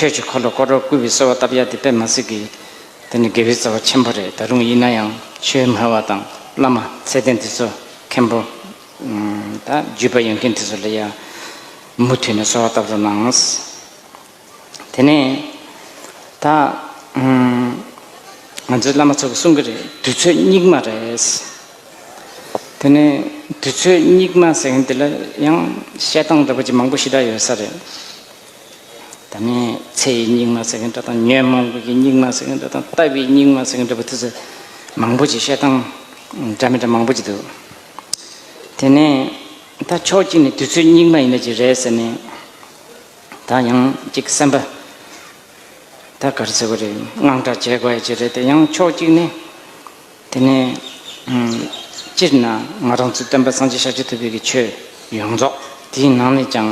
ཆོས་ཀྱི་འཁོར་ལོ་བསྐོར་རོགས་བསྐུལ་བའི་གསོལ་བ་བཏབ་ཡ་དེ་པད་མ་སི་ཀི། དེ་ནི་དགེ་བའི་རྩ་བ་ཆེན་པོ་རེད་ད་རུང་ཡིན་ན་ཡང་ཆོས་སྨྲ་བ་དང་བླ་མ་ཚད་ལྡན་འདི་ཚོ་མཁན་པོ། ད་རྒྱུད་པ་ཡོད་མཁན་དེ་ཚོ་ལ་ཡང་མུ་མཐུད་ནས་གསོལ་བ་བཏབ་རོགས་གནང། དེ་ནས་ད། ང་ཚོའི་བླ་མ་ཚོ་གི་གསུང་གི་རེད་དུས་ཚོད་སྙིགས་མ་རེད། དེ་ནས་དུས་ཚོད་སྙིགས་མ་ཟེར་མཁན་དེ་ལ་ཡང་བཤད་སྟངས་འདྲ་པོ་ཅི་མང་པོ་ཞིག་འདྲ་ཡོད་ས་རེད། ད་ནི་ཚེ་ཡི་སྙིགས་མ་ཟེར་མཁན་འདྲ་དང་ཉོན་མོངས་པའི་སྙིགས་མ་ཟེར་མཁན་འདྲ་དང་ལྟ་བའི་སྙིགས་མ་ཟེར་མཁན་འདྲ་བུ་དེ་ཚོ་མང་པོ་ཅིག་བཤད་སྟངས་འདྲ་མི་འདྲ་མང་པོ་ཅིག་འདུག། དེ་ནས་ད་ཕྱོགས་གཅིག་ནས་དུས་ཚོད་སྙིགས་མ་ཡིན་ན་ཅིག་རེད་ཟེར་ནས་ད་ཡང་ཅིག་སེམས་པ་ད་ག་རེ་ཟེར་དགོས་རེད་དངངས་སྐྲག་བྱེད་དགོས་ཡ་ཅིག་རེད་དེ་ཡང་ཕྱོགས་གཅིག་ནས། དེ་ནས། སྤྱིར་ན་ང་རང་ཚོའི་སྟོན་པ་སངས་རྒྱས་ཤཱཀྱ་ཐུབ་བོད་ཀྱི་ཆོས་ཡོངས་རྫོགས་དེའི་ནང་ནས་ཀྱང་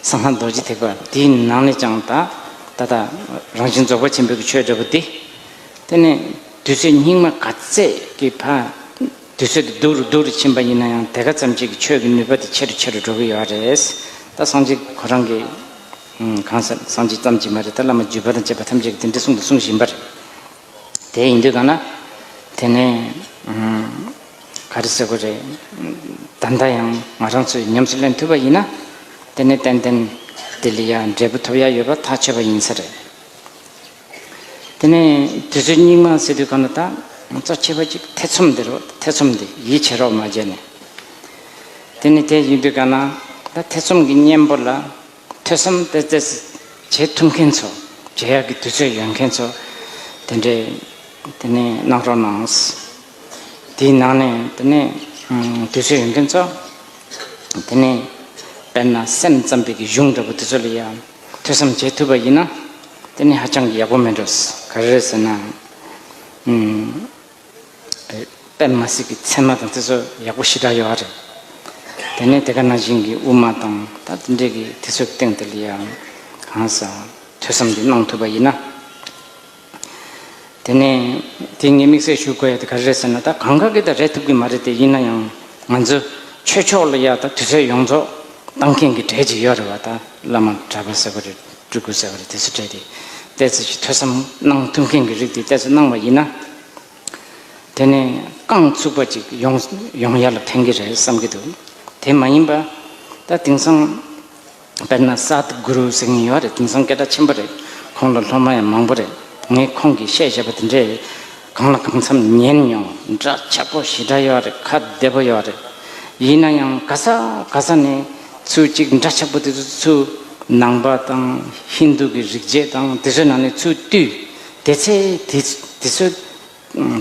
གསང་སྔགས་རྡོ་རྗེ་ཐེག་པ་དེའི་ནང་ནས་ཀྱང་ད་ད་ལྟ་རང་བཞིན་རྫོགས་པ་ཆེན་པོའི་ཆོས་འདྲ་པོ་འདི། དེ་ནས་དུས་ཚོད་སྙིགས་མ་ག་ཚད་ཀྱི་བར་དུས་ཚོད་དེ་སྡུག་རུ་སྡུག་རུ་ཕྱིན་པ་ཡིན་ན་ཡང་དེ་ག་ཙམ་གྱིས་ཀྱི་ཆོས་ཀྱི་ནུས་པ་དེ་ཆེ་རུ་ཆེ་རུ་འགྲོ་གི་ཡོད་རེད། ད་སངས་རྒྱས་ཁོ་རང་གི། གང་ཟེར་སངས་རྒྱས་ཙམ་གྱིས་མ་རེད་ད་བླ་མ་བརྒྱུད་པ་དང་བཅས་པ་ཐམས་ཅད་ཀྱིས་དེ་འདྲ་གསུངས་དང་གསུང་བཞིན་པ་རེད། དེ་ཡིན་དུས་ཐོག་ན་དེ་ནས་ག་རེ་ཟེར་དགོས་རེད། ད་ལྟ་ཡང་ང་རང་ཚོས་ཉམས་སུ་ལེན་ཐུབ་པ་ཡིན་ན་དེ་ནི་ཏན་ཏན་ལྡི་ལི་ཡར་འབྲས་བུ་ཐོབ་ཡ་ཡོད་པ་ཐག་ཆོད་པ་ཡིན་ས་རེད། དེ་ནས་དུས་ཚོད་སྙིགས་མ་ཟེར་དུས་ག་ན་ད་ང་ཚོ་ཁྱེད་པ་ཅིག་ཐེ་ཚོམ་འདི་རོགས་ཐེ་ཚོམ་འདི་ཡིད་ཆེས་རོགས་མ་བྱས་ནས། དེ་ནི་དེ་ཡིན་དུས་ག་ན་ད་ཐེ་ཚོམ་གྱི་གཉེན་པོ་ལ་ཐོས་བསམ་སྤེལ་རྩེད་བྱེད་ཐུབ་མཁན་ཚོ་རྗེ་ཡག་གི་དུས་ཚོད་ཡོད་མཁན་ཚོ་དེ་འདྲས་དེ་ནས་གནང་རོགས་གནང། དེའི་ནང་ནས་དེ་ནས་དུས་ཚོད་ཡོད་མཁན་ཚོ་དེ་ནས་དཔེར་ན་སེམས་ཙམ་པའི་གི་གཞུང་འདྲ་པོ་དེ་ཚོ་ལ་ཡང་ཐོས་བསམ་བྱེད་ཐུབ་པ་ཡིན་ན་དེ་ནི་ཧ་ཅང་གི་ཡག་པོ་མིན་འགྲོ། ག་རེ་རེད་ཟེར་ན། པད་མ་སྲིད་ཀྱི་མཚན་མ་དང་དེ་ཚོ་ཡག་པོ་ཞེ་དྲག་ཡོད་རེད། དེ་ནས་དེ་ག་ན་བཞིན་གྱི་དབུ་མ་དང་ད་ལྟ་འདྲེས་ཀྱི་དེ་ཚོའི་སྟེང་དུ་ལ་ཡང་གང་ཟག་ཐོས་བསམ་གྱིས་གནང་ཐུབ་པ་ཡིན་ན། དེ་ནས་དེ་ངས་དམིགས་བསལ་ཞུ་དགོས་ཡ་དེ་ག་རེད་ཟེར་ན་ད་གང་ག་གི་ད་རེད་ཐུབ་ཀྱི་མ་རེད་དེ་ཡིན་ན་ཡང་ང་ཚོ་ཆོས་ཕྱོགས་ལ་ཡ་ད་དུས་ཚོད་ཡོངས་རྫོགས་གཏང་མཁན་གྱི་གྲས་ཅིག་ཡོད་རེད་བ་ད་བླ་མ་གྲྭ་པ་ཟེར་བ་རེད། སྤྲུལ་སྐུ་ཟེར་བ་ལས་དེ་ཚོ་བྲལ་ཏེ་གཏད་ཚོད་ཀྱི་ཐོས་བསམ་གནང་ཐུབ་མཁན་གྱི་རིགས་དེ་གཏད་ཚོད་གནང་བ་ཡིན་ན། དེ་ནི་རྐང་ཚུགས་པ་ཅིག་ཡོང་ཡོང་ཡར་ལ་འཕེན་གྱི་རེད་བསམ་གྱི་འདུག་དེ་མ་ཡིན་པ། ད་དེང་སང་དཔེར་ན་སཱཏ་གུ་རུ་ཟེར་མཁན་ཡོད་རེད་དེང་སང་སྐད་གྲགས་ཆེན་པོ་རེད་ཁོང་ལ་སློབ་མ་ཡང་མང་པོ་རེད་ངས་ཁོང་གིས་བཤད་བཞག་པ་དེ་འདྲའི་གང་ལ་གང་འཚམ་ཉན་མྱོང་འདྲ་ཆགས་པོ་ཞེ་དྲག་ཡོད་རེད་ཁ་བདེ་པོ་ཡོད་རེད། ཡིན་ན་ཡང་ག་ས་ག་ས་ནས་ཚུལ་གཅིག་འདྲ་ཆགས་པོ་དེ་ཚོ་ཚུལ་ནང་པ་དང་ཧིན་རྡུ་གི་རིག་བྱེད་དང་དེ་ཚོའི་ནང་ནས་ཚུལ་བཏུས་དེ་ཚེ་དེ་ཚོས་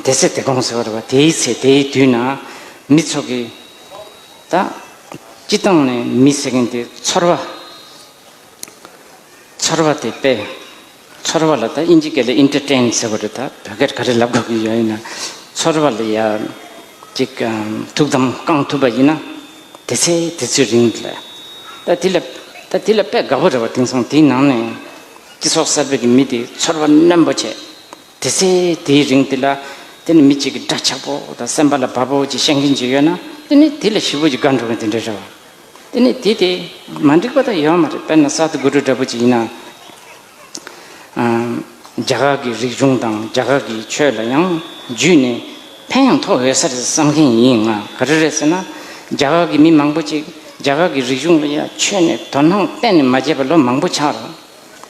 དེ་ཚེ་དེ་དགོངས་ཟེར་བ་རེད་བ་དེའི་ཚེ་དེའི་དུས་ན་མི་ཚོ་གི་ད་སྤྱི་བཏང་ནས་མི་ཟེར་མཁན་དེ་ཚོར་བ་ཚོར་བ་དེ་དཔེ་ཚོར་བ་ལ་ད་དབྱིན་ཇི་སྐད་ལས Entertain ཟེར་བ་རེད་ད་བོད་སྐད་ག་རེ་ལབ་དགོས་ཀྱི་ཡོད་ཡིན་ན། ཚོར་བ་ལ་ཡ། ཅིག་ཐུགས་དམ་བསྐང་ཐུབ་པ་ཡིན་ན། དེ་ཚེ་དེ་ཚོའི་རིང་དུ་ལ། ད་དེ་ལ། ད་དེ་ལ་དཔེ་དགའ་བོ་རེ་བ་དེང་སང་དེའི་ནང་ནས། སྤྱི་ཚོགས་གསར་པའི་གི་མི་དེ་ཚོར་བ་རྣོན་པོ་བྱེད། དེ་ཚེ་དེའི་རིང་དུ་ལ། དེ་ནི་མི་གཅིག་གི་དགྲ་ཆགས་པོ་ད་སེམས་པ་ལ་བབ་བོ་ཅིག་བཤད་མཁན་ཅིག་ཡོད་ན་དེ་ནི་དེ་ལ་ཞི་བོ་ཅིག་དགའ་འགྲོ་མཁན་དེ་འདྲ་རེད་བ། དེ་ནས་དེ་དེ་མ་འགྲིག་པ་དག་ཡོད་མ་རེད་དཔེར་ན་གསར་དུ་དགོད་བྲོ་འདྲ་པོ་ཅིག་ཡིན་ན། རྒྱ་གར་གྱི་རིག་གཞུང་དང་རྒྱ་གར་གྱི་ཆོས་ལ་ཡང་བརྒྱུད་ནས་ཕན་ཡང་ཐོག་ཡོད་ས་རེད་བསམ་མཁན་ཡིན་ཡང་ག་རེ་རེད་ཟེར་ན། རྒྱ་གར་གྱི་མི་མང་པོ་ཅིག་རྒྱ་གར་གྱི་རིག་གཞུང་ལ་ཡང་ཆོས་ནས་དོ་སྣང་གཏན་ནས་མ་བྱས་པར་ལོ་མང་པོ་ཆགས་རེད།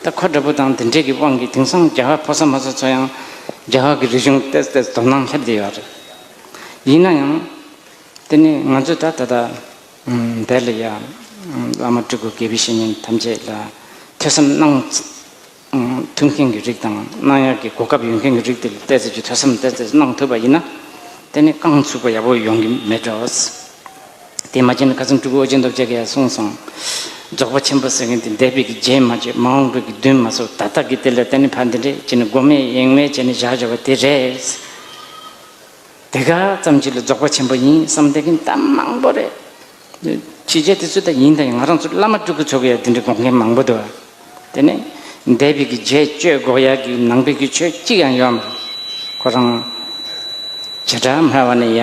ད་ཁོ་འདྲ་པོ་དང་དེ་འདྲས་ཀྱི་དབང་གིས་དེང་སང་རྒྱ་གར་ཕོ་གསར་མོ་གསར་ཚོ་ཡང་རྒྱ་གར་གྱི་རིག་གཞུང་བལྟས་བལྟས་སུ་དོ་སྣང་སླེབས་བསྡད་ཡོད་རེད། ཡིན་ན་ཡང། དེ་ནས་ང་ཚོས་ད་ལྟ་འདས་ལ་ཡང་བླ་མ་སྤྲུལ་སྐུ་དགེ་བའི་བཤེས་གཉེན་ཐམས་ཅད་ལ་ཐོས་བསམ་གནང། ཐུབ་མཁན་གྱི་རིགས་དང་གནང་ཡག་གི་གོ་སྐབས་ཡོད་མཁན་གྱི་རིགས་དེ་ལ་བལྟས་ཚོད་ཀྱིས་ཐོས་བསམ་བལྟས་ཚོད་གནང་ཐུབ་པ་ཡིན་ན། དེ་ནི་རྐང་ཚུགས་པ་ཡག་པོ་ཡོང་གི་མེད་འགྲོ། དེ་མ་བྱས་ན་ག་ཚོད་སྤྲུལ་སྐུ་ཨོ་རྒྱན་རྡོ་རྗེ་ག་ཡར་གསུངས་སོང། རྫོགས་པ་ཆེན་པོ་ཟེར་མཁན་དེ་འདས་པའི་གི་རྗེས་མ་བརྗེད་མ་འོངས་པའི་གི་མདུན་མ་སོགས་ད་ལྟ་གི་དེ་ལ་བལྟས་ནས་ཕ་འདི་འདྲས་བྱས་ནས་མགོ་མེད་གཡེང་མེད་བྱས་ནས་བཞག་ཆོག་པ་དེ་རེད། དེ་ག་ཙམ་གྱིས་ལ་རྫོགས་པ་ཆེན་པོ་ཡིན་བསམ་སྟེ་གིན་གཏམ་མང་པོ་རེ་བྱས་རྗེས་དེ་ཚོ་ད་ཡིན་ད་ཡིན་ང་རང་ཚོ་བླ་མ་སྤྲུལ་སྐུ་ཚོ་གི་ཡ་དེ་འདྲའི་དགོངས་མཁན་མང་པོ་འདུག་དེ་ནི་འདས་པའི་གི་རྗེས་གཅོད་འགོག་ཡ་གི་ནང་པའི་གི་ཆོས་གཅིག་ཡང་ཡོད་མ་ཁོ་རང་བྱེ་བྲག་མ་ཧྲ་བ་ནི་ཡ་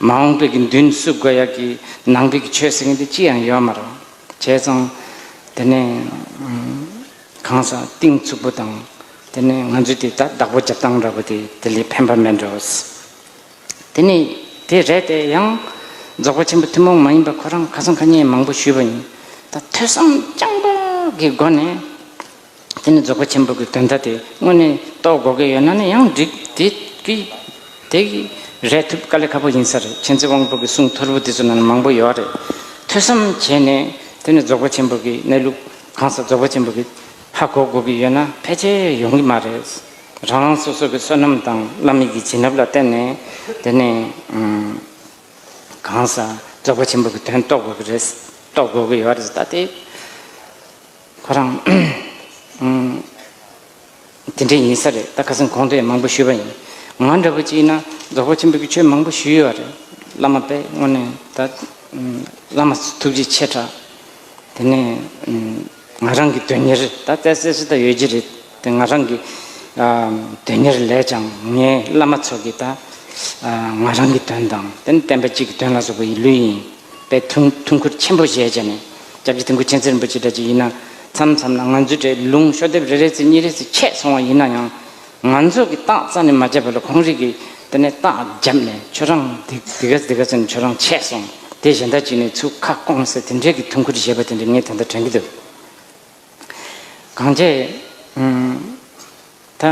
མ་འོངས་པའི་གི་མདུན་བསུ་དགོས་ཡ་གི་ནང་པའི་གི་ཆོས་ཟེར་མཁན་དེ་གཅིག་ཡང་ཡོད་མ་རོ་བྱས་ཙང་དེ་ནི་གང་ཟག་གཏིང་ཚུགས་པོ་དང། དེ་ནས་ང་ཚོས་དེ་དག་བདག་པོ་རྒྱབ་སྟངས་འདྲ་པོ་དེ་དེ་ལས་ཕན་པ་མེད་འགྲོ། དེ་ནི་དེ་རེད་དེ་ཡང། རྫོགས་པ་ཆེན་པོ་ཐུན་མོང་མ་ཡིན་པ་ཁོ་རང་ཁ་སང་ཁ་སྙན་མང་པོ་ཞུས་པ་ཡིན། ད་ཐོས་བསམ་རྐྱང་པ་གི་སྒོ་ནས། དེ་ནི་རྫོགས་པ་ཆེན་པོ་གི་དོན་དག་དེ་དངོས་ནས་རྟོགས་དགོས་ཀྱི་ཡོད་ན་ནི་ཡང་འགྲིག་དེ་གི། དེ་གི་རེད་ཐུབ་དཀའ་ལས་ཁ་པོ་ཡིན་ས་རེད་མཁྱེན་བརྩེ་དབང་པོ་གི་གསུང་ཐོར་བུ་དེ་ཚོ་ནང་ན་མང་པོ་ཡོད་རེད། ཐོས་བསམ་བྱས་ནས་དེ་ནི་རྫོགས་པ་ཆེན་པོ་གི་གནས་ལུགས། གང་ཟག་རྫོགས་པ་ཆེན་པོ་གིས་ཧ་གོ་དགོས་ཀྱི་ཡོད་ན་ཕལ་ཆེར་ཡོང་གི་མ་རེད། རང་རང་སོ་སོ་གི་བསོད་ནམས་དང་བླ་མེད་ཀྱི་བྱིན་རླབས་ལ་བརྟེན་ནས་དེ་ནས་གང་ཟག་རྫོགས་པ་ཆེན་པོ་གི་དོན་རྟོགས་དགོས་ཀྱི་རེད། རྟོགས་དགོས་ཀྱི་ཡོད་རེད་ད་ལྟའི་ཁོ་རང། དེ་འདྲ་ཡིན་ས་རེད་ད་ཁ་སང་གོང་དུ་ཡང་མང་པོ་ཞུས་པ་ཡིན་ང་འདྲ་བོ་ཅིག་ཡིན་ན་རྫོགས་པ་ཆེན་པོ་གི་ཆོས་མང་པོ་ཞུས་ཡོད་རེད་བླ་མ་དཔལ་དངོས་ནས་ད་བླ་མ་ཐུགས་རྗེ་ཆེ་དྲག་དེ་ནས་ང་རང་གི་དོན་གཉེར་ད་བཙལ་བཙལ་སུ་ད་ཡོད་ཀྱི་རེད་དེ་ང་རང་གི་དོན་གཉེར་ལས་ཀྱང་ངའི་བླ་མ་ཚོ་གི་ད་ང་རང་གི་དོན་དང་དེ་ནས་བསྟན་པ་གཅིག་གི་དོན་ལ་སོགས་པ་ཡི་ལུས་ཡིན། པའི་ཐུགས་འཁུར་ཆེན་པོ་བཞེས་བྱས་ནས་སྐྱབས་རྗེ་ཐེམ་སྐུ་ཆེན་རྩེར་འབུལ་ཅི་དྲག་ཅིག་ཡིན་ན། མཚམས་མཚམས་ན་ང་ཚོའི་གྲས་ལུང་ཤོ་དེབ་རེ་རེ་ཚེ་གཉིས་རེ་ཚེ་ཆད་སོང་བ་ཡིན་ན་ཡང། ང་ཚོ་གི་སྟག་རྩ་ནས་མ་བརྒྱབ་པ་ལ་ཁོང་རིགས་ཀྱིས་དེ་ནས་སྟག་བརྒྱབ་ནས་ཁྱོད་རང་འདི་འདི་ག་འདི་ག་ཟེར་ནས་ཁྱོད་རང་ཆད་སོང་དེ་གཞན་དག་ཅིག་ནས་ཚུར་ཁ་སྐོང་ཟེར་དེ་འདྲའི་གི་ཐུགས་འཁུར་བཞེས་པ་དེ་འདྲ་ངས་དེ་ལྟར་དྲན་གྱི་འདུག་གངས་ཅན། ད།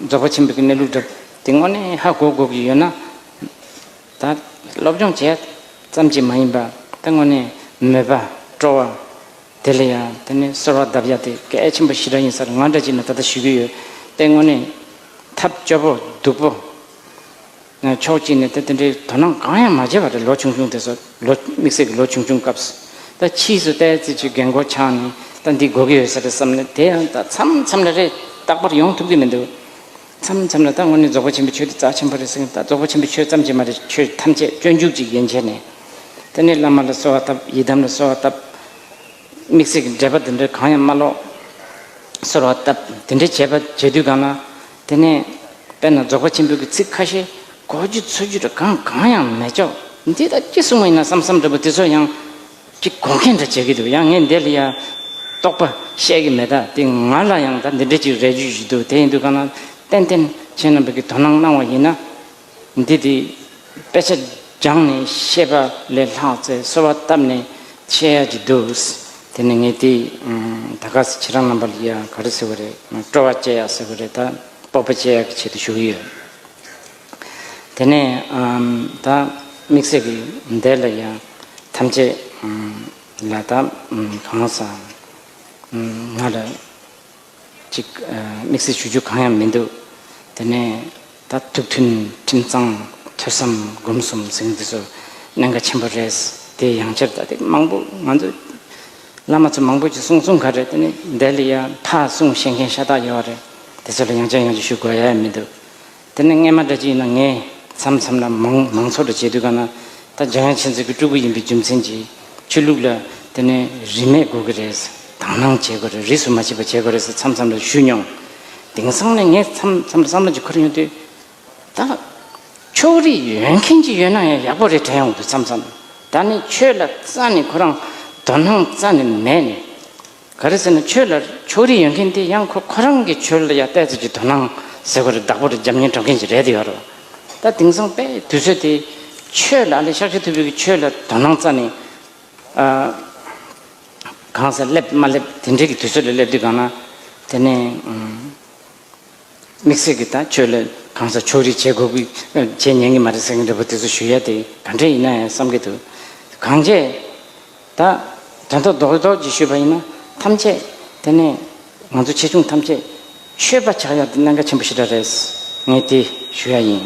རྫོགས་པ་ཆེན་པོའི་གནས་ལུགས་བསྒྲུབ། དེ་སྔོན་ནས་ཧ་གོ་དགོས་ཀྱི་ཡོད་ན། ད། སློབ་སྦྱོང་བྱས། ཙམ་གྱིས་མ་ཡིན་པར་ད་སྔོན་ནས་མོས་པ་སྤྲོ་བ། དེ་ལ་ཡང་དེ་ནས་གསོལ་བ་གདབ་ཡ་དེ་གལ་ཆེན་པོ་ཞི་དྲག་ཡིན་སར་ང་འདྲ་གཅིག་ནས་ད་ལྟ་ཞུ་གི་ཡོད། དེ་སྔོན་ནས། ཐབས་སྐྱོ་པོ་སྡུག་པོ། ཕྱོགས་གཅིག་ནས་ད་དེ་འདྲའི་དོ་སྣང་གང་ཡང་མ་བྱས་པ་རེད་ལོ་ཆུང་ཆུང་དེ་ཚོ་ལོ་དམིགས་བསལ་གྱི་ལོ་ཆུང་ཆུང་སྐབས་སུ་ད་ཕྱིས་སུ་ད་རྩེ་ཆུའི་རྒན་རྒོན་ཆགས་ནས་ད་འདི་དགོས་ཀྱི་ཡོད་ས་རེད་བསམ་ནས་དེ་ཡང་ད་མཚམས་མཚམས་ལ་རེད་རྟག་པར་ཡོང་ཐུབ་ཀྱི་མི་འདུག་མཚམས་མཚམས་ལ་ད་དངོས་གནས་རྫོགས་པ་ཆེན་པོའི་ཆོས་འདི་རྩ་ཆེན་པོ་རེད་ཟེར་གི་ད་རྫོགས་པ་ཆེན་པོའི་ཆོས་ཙམ་གྱིས་མ་རེད་ཆོས་ཐམས་ཅད་སྤྱོད་འཇུག་ཅིག་ཡིན་ཆེ་ནས་ད་ནི་བླ་མ་ལ་གསོལ་བ་བཏབ་ཡི་དམ་ལ་གསོལ་བ་བཏབ། མིག་ཚིག་གི་འབྲེལ་པ་འདི་འདྲ་གང་ཡང་མ་ཀློག། ཟེར་བ་ལྟར་དེ་འདྲའི་བྱེད་པ་བྱེད་དུས་གང་ན་དེ་ནས། དཔེར་ན་རྫོགས་པ་ཆེན་པོའི་གི་ཚིག་ཁ་ཤས་གོ་རྒྱུ་འཚོལ་རྒྱུ་འདྲ་གང་གང་ཡང་མེད་ཅོག་འདི་ད་ཅི་གསུང་བ་ཡིན་ན་བསམ་བསམ་འདྲ་བུ་དེ་ཚོ་ཡང། ཅི་གོ་མཁན་འདྲ་བྱེད་ཀྱི་འདུག་ཡང་ངས་འདི་ལ་ཡང། རྟོག་པ་བཤད་ཀྱི་མེད་ད་དེ་ང་ལ་ཡང་ད་འདི་འདྲ་ཅིག་རེག་རྒྱུ་ཞིག་འདུག་དེ་ཡིན་དུས་གང་ན། ཏན་ཏན་ཁྱེད་རྣམ་པས་ཀྱི་དོ་སྣང་གནང་བ་ཡིན་ན། འདི་དེས་དཔེ་ཆ་སྦྱངས་ནས་བཤད་པ་ལས་ལྷག་ཚེ་གསོལ་བ་བཏབ་ནས་བཤད་ཡག་གི་འདུག་དེ་ནས་ངས་དེ་ད་ག་ཟེ་ཁྱེད་རང་རྣམ་པ་ལ་ཡང་ག་རེ་ཟེར་བ་རེད་སྤྲོ་བ་བསྐྱལ་ཡག་ཟེར་བ་རེད་ད་སྤོབས་པ་བསྐྱལ་ཡག་གི་ཆེད་དུ་ཞུ་གི་ཡོད། དེ་ནས་ད་དམིགས་བསལ་གི་འདས་ལ་ཡང་ཐམས་ཅད་ལ་ད་གང་ཟག་ང་ལ་ཅིག། དམིགས་བསལ་ཞུ་རྒྱུ་གང་ཡང་མི་འདུག་དེ་ནས། ད་ཐུགས་མཐུན་ཁྲིམས་གཙང་ཐོས་བསམ་སྒོམ་གསུམ་ཟེར་འདི་ཚོ་གནད་འགག་ཆེན་པོ་རེད། དེ་ཡང་ཕྱིར་ལྟ་དེ་མང་པོ་ང་ཚོ་བླ་མ་ཚོ་མང་པོ་ཅིག་གསུང་གསུང་ག་རེད་དེ་ནས་འདས་ལ་ཡང་ཐག་གསུང་བཤད་མཁན་ཤ་སྟག་ཡོད་རེད་དེ་ཚོ་ལ་ཡང་ཅི་ཡང་ཅི་ཞུ་དགོས་ཡ་ཡ་མི་འདུག་དེ་ནས་རྔན་མ་འདྲ་ཅི་ཡིན་ན་ངས་མཚམས་མཚམས་ལ་མང་མང་ཚོགས་འདྲ་བྱས་དུས་གང་ན་ད་རྒྱ་ཡང་ཆེ་ཚོད་ཀྱི་སྤྲུལ་སྐུ་ཡིན་པའི་རྒྱུ་མཚན་གྱིས་ཆོས་ལུགས་ལ་དེ་ནས་རིས་མེད་དགོས་ཀྱི་རེད། དང་བླངས་བྱེད་དགོས་རེད་རིས་སུ་མ་ཆད་པ་བྱེད་དགོས་རེད་ཟེར་མཚམས་མཚམས་ལ་ཞུས་མྱོང། དེང་སང་ནས་ངས་མཚམས་མཚམས་ལ་བསམ་བློ་ཅིག་འཁོར་ཡོང་དུས། ད་ཕྱོགས་རིས་ཡོད་མཁན་ཅིག་ཡོད་ན་ཡང་ཡག་པོ་རེད་དྲན་ཡོང་དུས་མཚམས་མཚམས་ད་ནི་ཆོས་ལ་རྩ་ནས་ཁོ་རང་དོ་སྣང་རྩ་ནས་མེད་ནས། ག་རེ་ཟེར་ན་ཆོས་ལ་ཕྱོགས་རིས་ཡོད་མཁན་དེ་ཡང་ཁོ་ཁོ་རང་གི་ཆོས་ལ་ཡ་བལྟས་ཚོད་ཀྱི་དོ་སྣང་ཟེར་བ་རེ་བདག་པོ་རེ་འཇམ་མཉེན་གྲོགས་མཁན་ཞིག་རེད་དེ་ཡོད་རེད། ད་དེང་སང་དཔེ་དུས་ཚོད་དེ་ཆོས་ལ་ཨ་ལེ་ཤག་ཤི་ཐུ་བྷི་གི་ཆོས་ལ་དོ་སྣང་རྩ་ནས་གང་ཟེར་སླེབས་མ་སླེབས་དེ་འདྲའི་གི་དུས་ཚོད་ལ་སླེབས་དུས་གང་ན་དེ་ནས། དམིགས་བསལ་གྱི་ད་ཁྱོད་ལ་གང་ཟག་ཕྱོགས་རིས་བྱེད་དགོས་ཀྱི་བྱེད་ཉན་གྱི་མ་རེད་ཟེར་མཁན་རེད་པོ་དེ་ཚོ་ཞུ་ཡ་དེ་ག་འདྲས་ཡིན་ན་ཡང་བསམ་གྱི་འདུག་གང་བྱས་ད་དོན་ཐོག་རྡོག་རྡོག་གྱིས་ཞུས་པ་ཡིན་ན་ཐམས་ཅད་དེ་ནས་ང་ཚོ་ཆེ་ཆུང་ཐམས་ཅད་ཆོས་པ་ཆགས་ཡ་དེ་གནད་འགག་ཆེན་པོ་ཞིག་འདྲ་རེད་ངས་དེ་ཞུ་ཡ་ཡིན།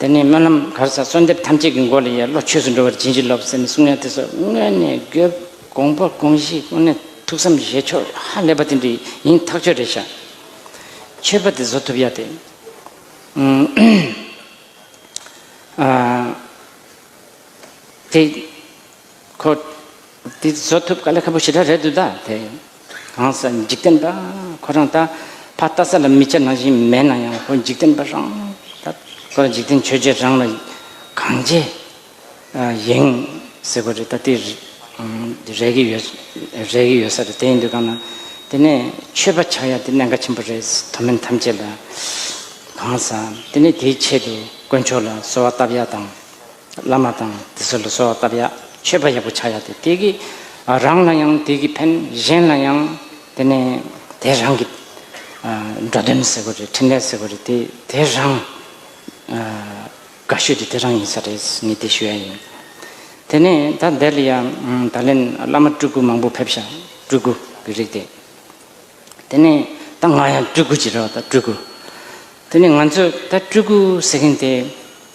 དེ་ནས་སྨོན་ལམ་གར་ས་གསོལ་འདེབས་ཐམས་ཅད་ཀྱི་མགོ་ལ་ཡས་བློ་ཆོས་སུ་འགྲོ་བར་བྱིན་གྱིས་རློབས་ཟེར་ནས་གསུང་ཡང་དེ་སོགས་སྔོན་ནས་གྱུར། དགོངས་པ་དགོངས་གཞི་དངོས་གནས་ཐུགས་བསམ་བཞེས་ཕྱོགས་ཧ་ལས་པ་དེ་འདྲ་ཡིན་ཐག་ཆོད་རེད་ཤག། ཆོས་པ་དེ་བཟོ་ཐུབ་ཡག་དེ། དེ་ཁོ། དེ་བཟོ་ཐུབ་ག་ལ་ཁ་པོ་ཞེ་དྲག་རེད་འདུག་ད་དེ་གང་ཟག་འཇིག་རྟེན་པ་ཁོ་རང་ད་ཕ་བལྟ་ས་ལ་མི་བྱ་ན་བཞིན་མེད་ན་ཡང་ཁོ་འཇིག་རྟེན་པ་རང་ད་ཁོ་རང་འཇིག་རྟེན་ཆོས་རྗེ་རང་ལ་གང་བྱེད་ཡིན་ཟེར་གོ་རེད་ད་དེ་རེད་གི་ཡོད་རེད་གི་ཡོད་ས་རེད་དེ་ཡིན་དུས་གང་ན་དེ་ནས་ཆོས་པ་ཆགས་ཡ་དེ་གནད་འགག་ཆེན་པོ་རེད་དོ་མེན་ཐམས་ཅད་ལ་གང་ཟག་དེ་ནས་དེའི་ཆེད་དུ་དཀོན་མཆོག་ལ་གསོལ་བ་བཏབ་ཡ་དང། བླ་མ་དང་དེ་ཚོ་ལ་གསོལ་བ་བཏབ་ཡ། མཆོད་པ་ཡག་པོ་བྱ་ཡ་དེ་དེ་གི་རང་ལ་ཡང་དེ་གི་ཕན་གཞན་ལ་ཡང་དེ་ནས་དེ་རང་གི་འགྲོ་དོན་ཟེར་བ་རེད་འཕྲིན་ལས་ཟེར་བ་རེད་དེ་དེ་རང་དགའ་ཤོས་དེ་དེ་རང་ཡིན་ས་རེད་ངས་དེ་ཞུ་ཡ་ཡིན། དེ་ནས་ད་འདས་ལ་ཡ་ད་ལན་བླ་མ་སྤྲུལ་སྐུ་མང་པོ་ཕེབས་ཤག་སྤྲུལ་སྐུ་གི་རིགས་དེ། དེ་ནས་ད་ང་ཡང་སྤྲུལ་སྐུ་ཅིག་རེད་བ་ད་སྤྲུལ་སྐུ། དེ་ནས་ང་ཚོས་ད་སྤྲུལ་སྐུ་ཟེར་མཁན་དེ་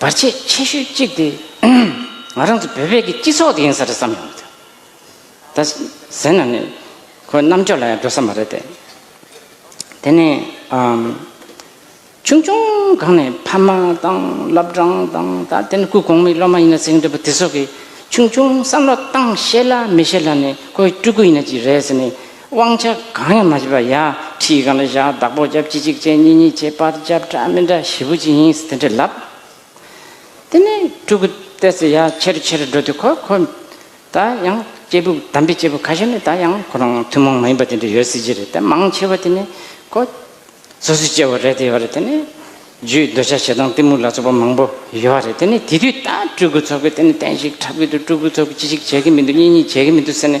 བར་ཆད་ཆེ་ཤོས་གཅིག་དེ་ང་རང་ཚོ་བོད་པའི་སྤྱི་ཚོགས་དེ་ཡིན་ས་རེད་བསམ་ཡོང་གི་འདུག་ད་གཟན་ན་ནི་ཁོའི་རྣམ་དཔྱོད་ལ་ཡང་འགྲོ་ས་མ་རེད་དེ། དེ་ནས་ཆུང་ཆུང་གང་ནས་ཕ་མ་དང་བླ་བྲང་དང་ད་དེ་ནི་སྐུ་གོང་མའི་སློབ་མ་ཡིན་ན་ཟེར་གྱི་འདུག་པ་དེ་ཚོ་གིས་ཆུང་ཆུང་བསམ་བློ་བཏང་ཤེས་ལ་མི་ཤེས་ལ་ནི་ཁོའི་སྤྲུལ་སྐུ་ཡིན་ན་ཅི་རེད་ཟེར་ནས་དབང་ཆ་གང་ཡང་མ་བྱས་པར་ཡང་ཁྲིའི་སྒང་ལ་བཞག་བདག་པོ་བརྒྱབ་གཅིག་གཅིག་བྱས་གཉིས་གཉིས་བྱས་པར་བརྒྱབ་འདྲ་མི་འདྲ་བཞི་པོ་ཅི་ཡིན་དེ་འདྲས་ལབ། དེ་ནས་སྤྲུལ་སྐུ་བལྟས་ཚེ་ཡར་ཆེ་རུ་ཆེ་རུ་འགྲོ་དུས་ཁོ་ཁོ་ད་ཡང་སྐྱེས་བུ་དམ་པའི་སྐྱེས་བུ་ཁ་ཤས་ནི་ད་ཡང་ཁོ་རང་ཐུན་མོང་མ་ཡིན་པ་དེ་འདྲ་ཡོད་སྲིད་ཀྱི་རེད་དེ་མང་ཆེ་བ་དེ་ནི་ཁོ་སོ་སོའི་སྐྱེ་བོ་རེད་དེ་ཡོད་རེད་དེ་ནི་རྒྱུའི་འདོད་ཆགས་ཞེ་སྡང་གཏི་མུག་ལ་སོགས་པ་མང་པོ་ཡོད་རེད་དེ་ནི་དེ་དུས་ད་སྤྲུལ་སྐུ་ཚོགས་ཀྱིས་དེ་ནི་བསྟན་བཤིག་འཁྲབ་གི་འདུག་སྤྲུལ་སྐུ་ཚོགས་ཀྱིས་ཅི་ཞིག་བྱེད་ཀྱི་མི་འདུག་གཉིས་གཉིས་བྱེད་ཀྱི་མི་འདུག་ཟེར་ནས།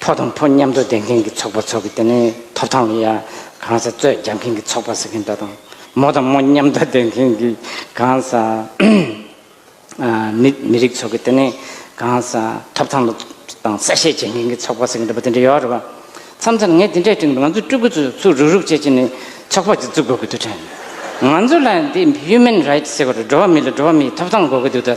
ཕོ་དང་ཕོ་མཉམ་འགྲོ་ལྡན་མཁན་གྱི་ཚོགས་པ་ཚོགས་ཀྱི་དེ་ནས་ཐོབ་ཐང་ལ་ཡང་གང་ཟག་རྩོད་རྒྱག་མཁན་གྱི་ཚོགས་པ་ཟེར་མཁན་འདྲ་དང། མོ་དང་མོ་མཉམ་འགྲོ་ལྡན་མཁན་གྱི་གང་ཟག་མི་མི་རིགས་ཚོགས་ཀྱི་དེ་ནས་གང་ཟག་ཐོབ་ཐང་ལ་དང་གསལ་བཤད་བྱེད་མཁན་གྱི་ཚོགས་པ་ཟེར་མཁན་འདྲ་པོ་དེ་འདྲ་ཡོད་རེད་པ། མཚམས་མཚམས་ངས་དེ་འདྲའི་སྟེང་དུ་ང་ཚོའི་སྤྲུལ་སྐུ་ཚོས་ཚུར་རུག་རུག་བྱེད་ཀྱི་ནི་ཚོགས་པ་ཅིག་བཙུགས་དགོས་ཀྱི་འདུག་དྲན། ང་ཚོ་ལ་འདི Human Rights ཟེར་བ་རེད་འགྲོ་བ་མི་ལ་འགྲོ་བ་མིའི་ཐོབ་ཐང་དགོས་ཀྱི་འདུག་ད།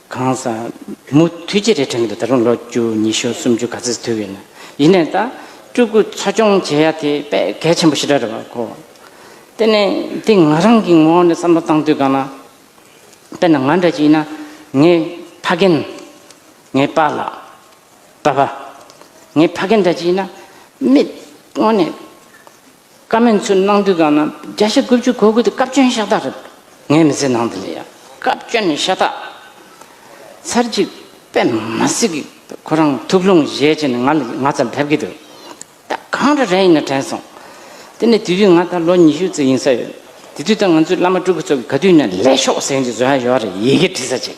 གང་ཟག། མུ་མཐུད་ཅི་རེད་དྲན་གི་འདུག་ད་རུང་ལོ་བཅུ་ཉི་ཤུ་སུམ་ཅུ་ག་ཚོད་དུས་ཡོད་ན་ཡིན་ནའི་ད་སྤྲུལ་སྐུ་འཚོ་སྐྱོང་བྱེད་ཡ་དེ་དཔེ་གལ་ཆེན་པོ་ཞིག་རེད་བ་གོ། དེ་ནས་འདི་ང་རང་གི་ངོ་ནས་བསམ་བློ་བཏང་དུས་གང་ན། དཔེར་ན་ང་འདྲ་ཅིག་ཡིན་ན་ངའི་ཕ་རྒན། ངའི་པཱ་ལགས། པཱ་པ། ངའི་ཕ་རྒན་འདྲ་ཅིག་ཡིན་ན་མིག་སྔོན་ནས། བཀའ་མོལ་ཚུར་གནང་དུས་གང་ན་བརྒྱ་ཆ་དགུ་བཅུ་གོ་དགོས་དེ་བཀའ་བཀྱོན་ཤ་སྟག་རེད། ངས་མི་ཚེ་ནང་དེ་ལས་ཡག་བཀའ་བཀྱོན་ཤ་སྟག། ཚར་གཅིག་པད་མ་སེ་གི་ཁོ་རང་ཐུགས་ལྷུང་བཞེས་བྱས་ནས་ང་ལ་ང་ཚ་ལ་ཕེབས་ཀྱི་འདུག་ད་གང་འདྲ་རན་ཡིན་ན་དྲན་སོང། དེ་ནས་དེ་དུས་ང་ད་ལོ་ཉི་ཤུ་ཙི་ཡིན་ས་ཡོད། དེ་དུས་ད་ང་ཚོའི་བླ་མ་སྤྲུལ་སྐུ་ཚོ་གི་ག་དུས་ནས་ལས་ཤོག་ཟེར་གྱི་བཟོ་ཡ་ཡོད་རེད་ཡི་གེ་བྲིས་ས་ཅིག།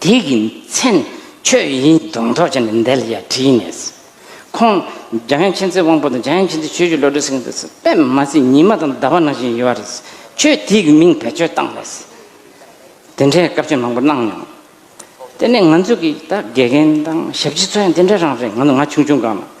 དེ་གི་མཚན་ཁྱོད་ཡིན་གདོང་གྲོགས་བྱས་ནས་འདལ་ཡ་བྲིས་ནས། ཁོང་རྒྱ་ཡན་ཆེན་ཚེ་དབང་པོ་དང་རྒྱ་ཡན་ཆེན་ཚེ་ཆོས་ཀྱི་བློ་གྲོས་སེང་གེ་སོགས་པད་མ་སི་ཉི་མ་དང་ཟླ་བ་ནང་བཞིན་ཡོད་རེད། ཁྱོད་དེ་གི་མིང་བེད་སྤྱོད་བཏང་རེད། དེ་འདྲའི་སྐབས་བཅོལ་མང་པོ་གནང་མྱོང། དེ་ནས་ང་ཚོ་གི་ད་དགེ་རྒན་དང་ཞབས་ཕྱི་ཚོ་ཡང་དེ་འདྲ་རང་རེད་ང་ཚོ་ང་ཆུང་ཆུང་སྒང་ལ།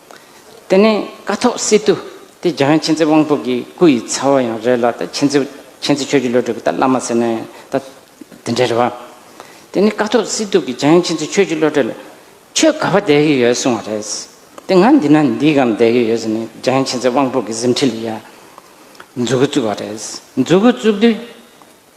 དེ་ནས་ཀ་ཐོག་སི་ཏུ་དེ་རྒྱ་གར་མཁྱེན་བརྩེ་དབང་པོ་གི་སྐུ་ཡི་ཚ་བོ་ཡང་རེད་ལ་ད་མཁྱེན་བརྩེ་མཁྱེན་བརྩེ་ཆོས་ཀྱི་བློ་གྲོས་ཀྱི་ད་བླ་མ་ཟེར་ནའི་ད་དེ་འདྲའི་རེད་བ། དེ་ནས་ཀ་ཐོག་སི་ཏུ་གི་རྒྱ་ཡང་མཁྱེན་བརྩེ་ཆོས་ཀྱི་བློ་གྲོས་ལ་ཁྱོད་ག་བ་བསྡད་ཀྱི་ཡོད་གསུང་བ་རེད། དེ་ང་འདི་ན་འདི་གམ་བསྡད་ཀྱི་ཡོད་ཟེར་ནས་རྒྱ་ཡང་མཁྱེན་བརྩེ་དབང་པོ་གི་གཟིམས་ཁྲི་ལ་ཡར་འཛུལ་གི་བཙུགས་བ་རེད། འཛུལ་གི་བཙུགས་དུས།